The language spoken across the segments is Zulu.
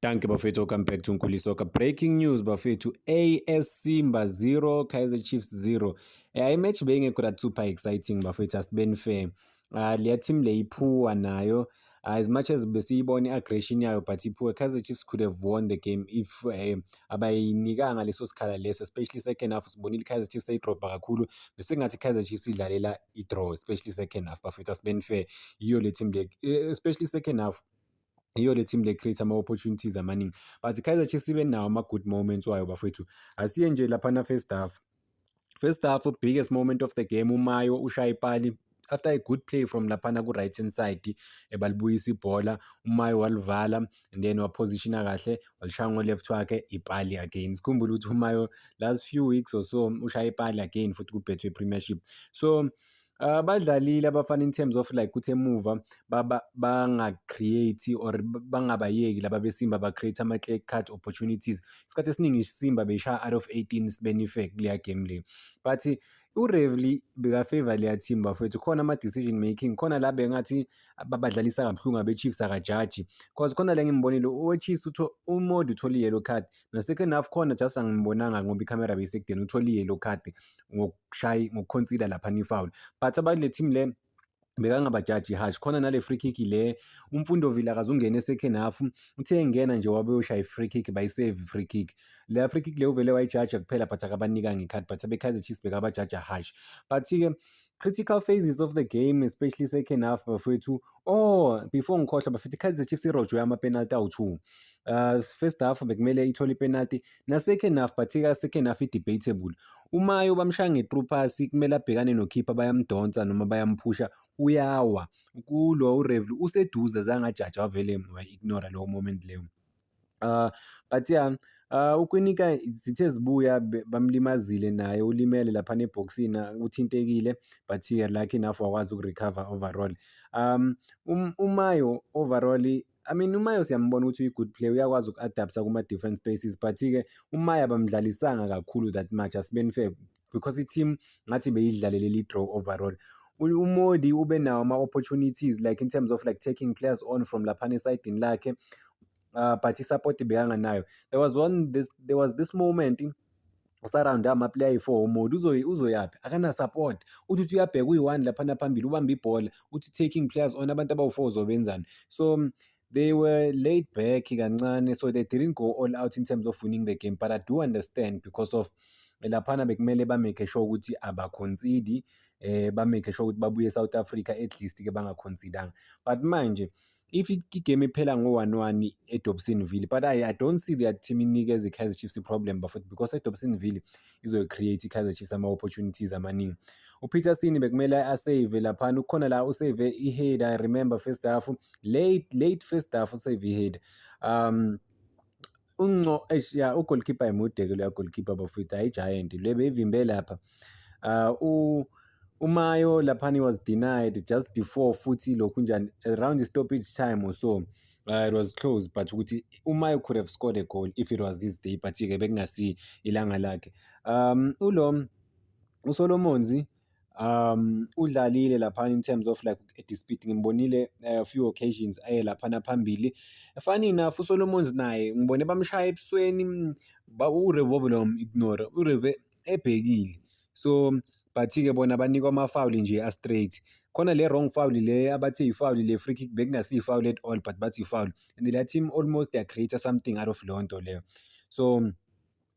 Danke bafethu, welcome back to Nkulisa Soccer. Breaking news bafethu, AS Simba 0, Kaizer Chiefs 0. Eh, imatch beyingekho that super exciting bafethu, asibeni fair. Uh, leya team le iphuwa nayo uh, as much as besiyibona i-aggression yayo but iphuwe Kaizer Chiefs could have won the game if eh, abayinikanga leso sikhala leso especially second half sibonile Kaizer Chiefs seyidrobha kakhulu besengathi Kaizer Chiefs idlalela i-draw especially second half bafethu asibeni fair yiyo le team le eh, especially second half yiyo le team le create ama opportunities amaningi but Kaizer Chiefs ibe nawo ama good moments wayo bafethu asiye nje lapha na first half first half biggest moment of the game umayo ushaya ipali after a good play from laphana ku right hand side ebalibuyisa ibhola umayo walivala and then wapositiona kahle walishaya ngo left wakhe ipali again sikhumbule ukuthi umayo last few weeks or so ushaya ipali again futhi kubhethwe premiership so Ah, badlalile abafana in terms of like ukuthi emuva banga-create or bangabayeki laba besimba ba-create ama-clear cut opportunities isikhathi esiningi isimba beyishaya out of 18 sibenifek kuleya game le but urevely bekafavor leya team bafethu khona ama-decision making khona la bengathi babadlalisa kabuhlungu abe-chiefs akajaji cause khona la ngimbonile owe-chiefs umodi uthole i-yellow card nasecond half khona just angimbonanga ngoba ikhamera beyisekudeni uthole i-yellow card ngokushayi ngokuconsider lapha ni foul but abanye le team le bekangabajaji hash khona nale free kick le umfundo vile akazungena esecond half uthe engena nje wabe ushaya i-free kick bayisave i-free kick le free kick le uvele wayijaja kuphela but akabanika ngekhathi but abekaizer chiefs bekabajaja hash but-ke critical phases of the game especially second half bafethu oh before ngikhohlwa bafethu ikaizer chiefs irojwe amapenalty awu-two uh, first half bekumele ithole ipenalty Nase-second half particular second half i-debatable. UMayo bamshaya nge-through pass kumele abhekane nokhipha bayamdonsa noma bayamphusha uyawa. Kulo uRevli useduze zange ajaje wavele wayi-ignore lowo moment leyo. Uh, but yeah Uh, uKwinika zithe zibuya bamlimazile naye ulimele laphana ebhokisini uthintekile but lucky enough wakwazi ukurecover overall. Um, um uMayo overall I mean uMaya siyambona ukuthi uyi-good player uyakwazi uku-adapta kuma-different spaces but-ke uMaya bamdlalisanga kakhulu that much asibeni fair because i-team ngathi beyidlalele li-draw overall umodi ube nawo ama-opportunities like in terms of like taking players on from laphana esayidini lakhe uh, but i-support bekanganayo there was one this, there was this moment usarawundi amaplayer ayi-four uModi uzoyaphi akana-support uthi uthi uyabheka uyi-one laphana phambili ubambe ibhola uthi taking players on abantu abawu-four uzobenzani so they were laid back kancane so they didn't go all out in terms of winning the game but i do understand because of laphana bekumele bamake sure ukuthi abakhonsidi eh bamake sure ukuthi babuye eSouth Africa at least ke bangaconsideranga but manje if igame iphela ngo-1-1 edobsonville but I, i don't see that team inikeza i-kaizer chiefs i-problem bafot because edobsonville izoyi-create i-kaizer chiefs ama-opportunities amaningi upeterson bekumele asave laphana ukhona la usave i-head i remember first half late late first half usave i-head um unco eish ya ugoalkeeper emude ke loya goalkeeper bafowethu hayi giant le beyivimbe lapha uh, u umayo laphana he was denied just before futhi lokhu njani around the stoppage time or so uh, it was close but ukuthi umayo could have scored a goal if it was his day but ke bekungasi ilanga lakhe um ulo usolomonzi um udlalile laphana in terms of like dispute ngimbonile a eh, few occasions aye laphana phambili funny enough uSolomons naye ngibone bamshaya ebusweni ba uRevove lo ignore uReve ebhekile so but ke bona banikwa ama foul nje a straight khona le wrong foul le abathi ifoul le free kick bekungasi ifoul at all but bathi ifoul and the team almost they create something out of lonto leyo so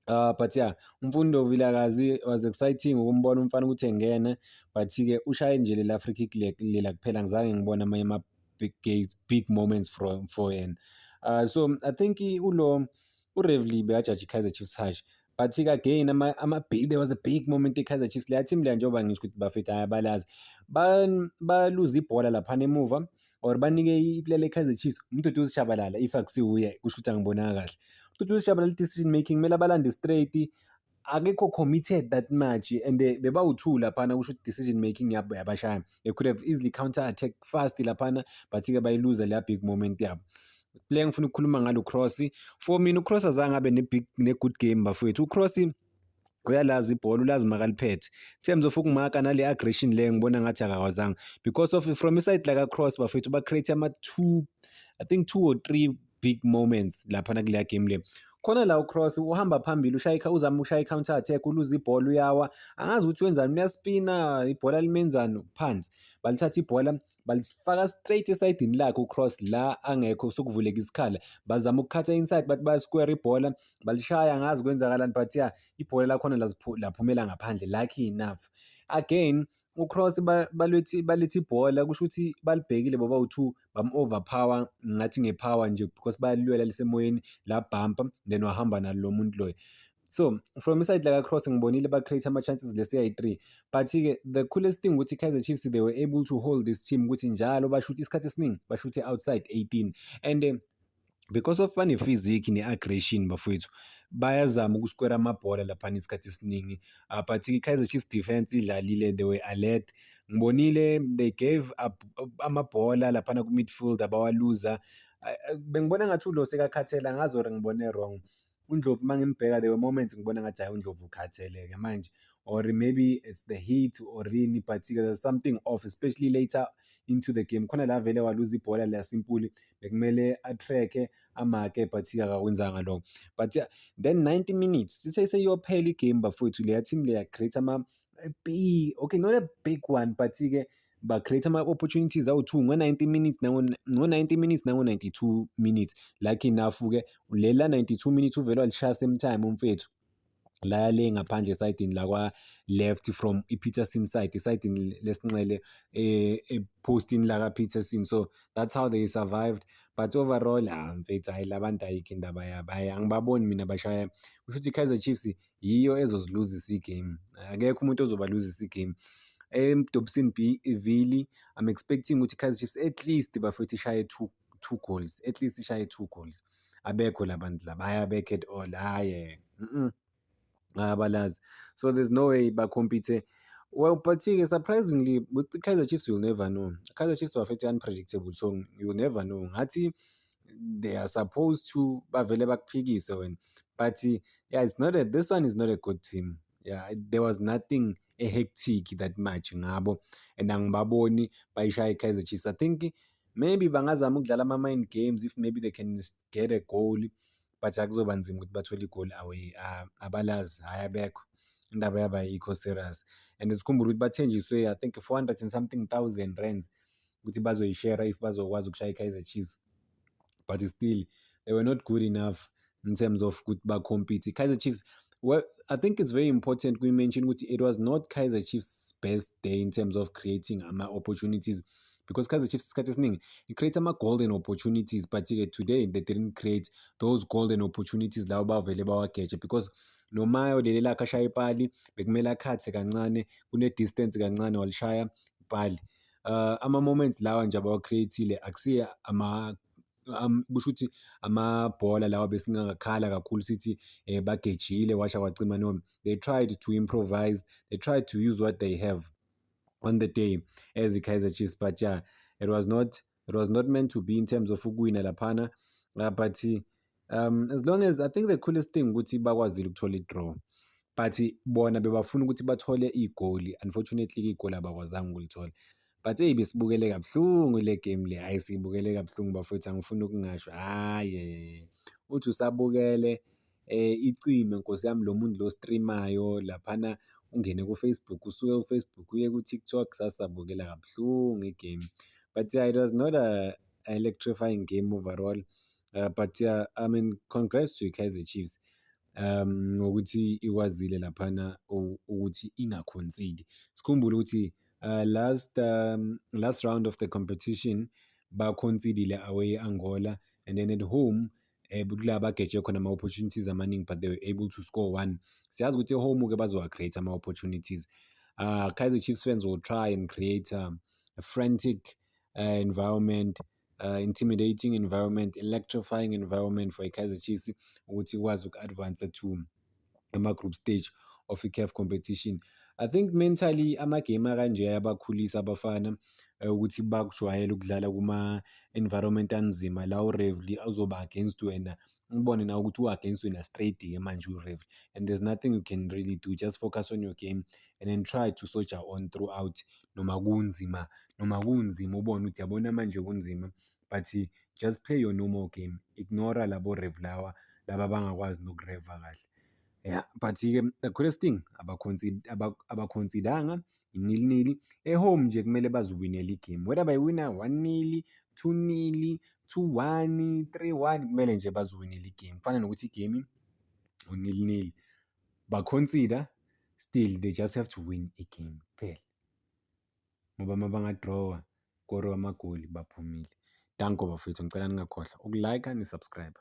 Uh, but yeah umfundo vilakazi was exciting ukumbona umfana ukuthi engene but-ke ushaye nje lela free kick lela kuphela ngizange ngibona amanye ama-big big moments from for yena uh, so i think ulo urevely bekajaji i-kaizer chiefs hash but-ke again ama-big ama there was a big moment i-kaizer chiefs leya team leya njengoba ngisho ukuthi bafethu ayabalazi baluze ibhola laphana emuva or banike iplele i-kaizer chiefs umduduzi shabalala if akusiwuye kusho ukuthi angibonanga kahle futhi usishabalala i-decision making kumele abalande straight akekho committed that much and bebawu-two laphana kusho ukuthi decision making yabo yabashaya they could have easily counter attack fast laphana but-ke bayiluza leya big moment yabo le ngifuna ukukhuluma ngalo cross for mina ucross azange abe ne-good game bafowethu ucross uyalazi ibhola ulazi makaliphethe Themz of ukumaka nale aggression le ngibona ngathi akakwazanga because of from iside like a cross bafethu ba create ama two i think two or three big moments lapha na kule game le khona la ucross uhamba phambili ushayikha uzama ukushaya i-counter attack uluza ibhola uyawa angazi ukuthi wenzani uyaspina ibhola limenzani phansi balithatha ibhola balifaka straight esayidini lakhe ucross la angekho sokuvuleka isikhala bazama ukukhatha inside bathi bayasquare ibhola balishaya ngazi kwenzakalani but ya ibhola lakhona laphumela ngaphandle lucky enough again ucross balethi balethi ibhola kusho ukuthi balibhekile baba u2 bam overpower ngathi ngepower nje because bayalwela lisemoyeni la bumper then wahamba nalo muntu loyo So from iside like across ngibonile ba create ama chances le CI3 but ke the coolest thing ukuthi Kaizer Chiefs they were able to hold this team ukuthi njalo bashuthe isikhathi esiningi bashuthe outside 18 and uh, because of bane physique ne aggression bafowethu bayazama ukusquare amabhola lapha isikhathi esiningi uh, but ke Kaizer Chiefs defense idlalile they were alert ngibonile they gave up amabhola lapha ku midfield abawaluza uh, bengibona ngathi ulo sekakhathela ngazi or ngibone wrong UNdlovu uma ngimbheka there were moments ngibona ngathi hhayi uNdlovu ukhathele-ke manje or maybe it's the heat or yini but-ke there's something off especially later into the game khona la vele waluza ibhola la simpuli bekumele atrack-e amake but-ke akakwenzanga lokho but yeah, then 90 minutes sithe seyophela igame bafowethu leya team leya create ama okay not a big one but-ke ba create ama opportunities awu2 ngo 90 minutes nango ngo 90 minutes nango 92 minutes lucky enough ke lela 92 minutes uvele walishaya same time umfethu la le ngaphandle esayidini lakwa left from iPeterson side esayidini lesinxele eh epostini laka Peterson so that's how they survived but overall ah mfethu hayi labantu ayikho indaba yabo hayi angibaboni mina bashaya kusho ukuthi Kaizer Chiefs yiyo ezoziluzisa i-game. Akekho umuntu ozobaluzisa i-game. EMdobisini B iVili I'm expecting ukuthi iKaizer Chiefs at least bafethu ishaye two two goals, at least ishaye two goals. Abekho la bantu laba, hhayi abekho at all, hhayi mm, abalazi. So there's no way bakhompithe Well, but-ke surprisingly with iKaizer Chiefs you'll never know. IKaizer Chiefs bafethu unpredictable so you'll never know. Ngathi they are supposed to bavele bakuphikise wena but yeah it's not a, this one is not a good team yeah there was nothing a hectic that much ngabo and angibaboni bayishaya i-kaizer chiefs i think maybe bangazama ukudlala ama-mind games if maybe they can get a goal but akuzoba nzima ukuthi bathole igoli away ah, abalazi hhayi abekho indaba yaba yikho serious and sikhumbula ukuthi bathenjiswe i think 400 and something thousand rands ukuthi bazoyishera if bazokwazi ukushaya i-kaizer chiefs but still they were not good enough in terms of ukuthi bacompete kaizer chiefs well i think it's very important we mention ukuthi it was not kaizer chiefs best day in terms of creating ama-opportunities because Kaizer Chiefs isikhathi esiningi it creates ama golden opportunities but ke today they didn't create those golden opportunities lawo bavele bawageje because noma yolele lakhe ashaya ipali bekumele akhathe kancane kune distance kancane walishaya ipali uh, ama-moments lawa nje abawa-create-ile akusiye ama um, kusho ukuthi amabhola lawa besingakakhala kakhulu sithi eh, bagejile washa kwacima noma they tried to improvise they tried to use what they have on the day as i-kaizer chiefs but yeah it was not it was not meant to be in terms of ukuwina laphana uh, but um as long as i think the coolest thing ukuthi bakwazile ukuthola i-draw but bona bebafuna ukuthi bathole igoli unfortunately igoli abakwazanga ukulithola but eyi besibukele kabuhlungu le game le hhayi siyibukele kabuhlungu bafowethu angifuni ukungasho hhayi uthi usabukele um eh, icime nkosi yami lo muntu lo streamayo laphana ungene kufacebook usuke kufacebook uye kutiktok sasabukela kabuhlungu igame but yeah, it was not a electrifying game overall uh, but uh, I mean congrats to Kaizer Chiefs um ngokuthi ikwazile laphana ukuthi ingakhonsidi sikhumbule ukuthi uh, last um, last round of the competition bakhonsidile away Angola and then at home eh kula bageje khona ama opportunities amaningi but they were able to score one siyazi ukuthi home ke bazowa create ama opportunities uh Kaizer Chiefs fans will try and create um, a frantic uh, environment uh, intimidating environment electrifying environment for ikaizer chiefs ukuthi ikwazi uku-advance to ama-group stage of i-caf competition i think mentally amagame akanje ayabakhulisa abafana eh, ukuthi bakujwayele ukudlala kuma-environment anzima la urevely azoba against wena ubone nawe ukuthi u-against wena straight-ke manje urevely and there's nothing you can really do just focus on your game and then try to soldier on throughout noma kunzima noma kunzima ubone ukuthi yabona manje kunzima but just play your normal game ignore labo rev lawa laba bangakwazi nokureva kahle yeah but-ke the greatest thing abakhonsidanga inilnili ehome nje kumele baziwinele igame whether bayiwina one nili two nili two one three one kumele nje baziwinele igame kufana nokuthi igame unilnili ba-consider still they just have to win i-game kuphela ngoba uma bangadrawa koriwa amagoli baphumile danko bafethu ngicela ningakhohlwa ukulike nisubscribe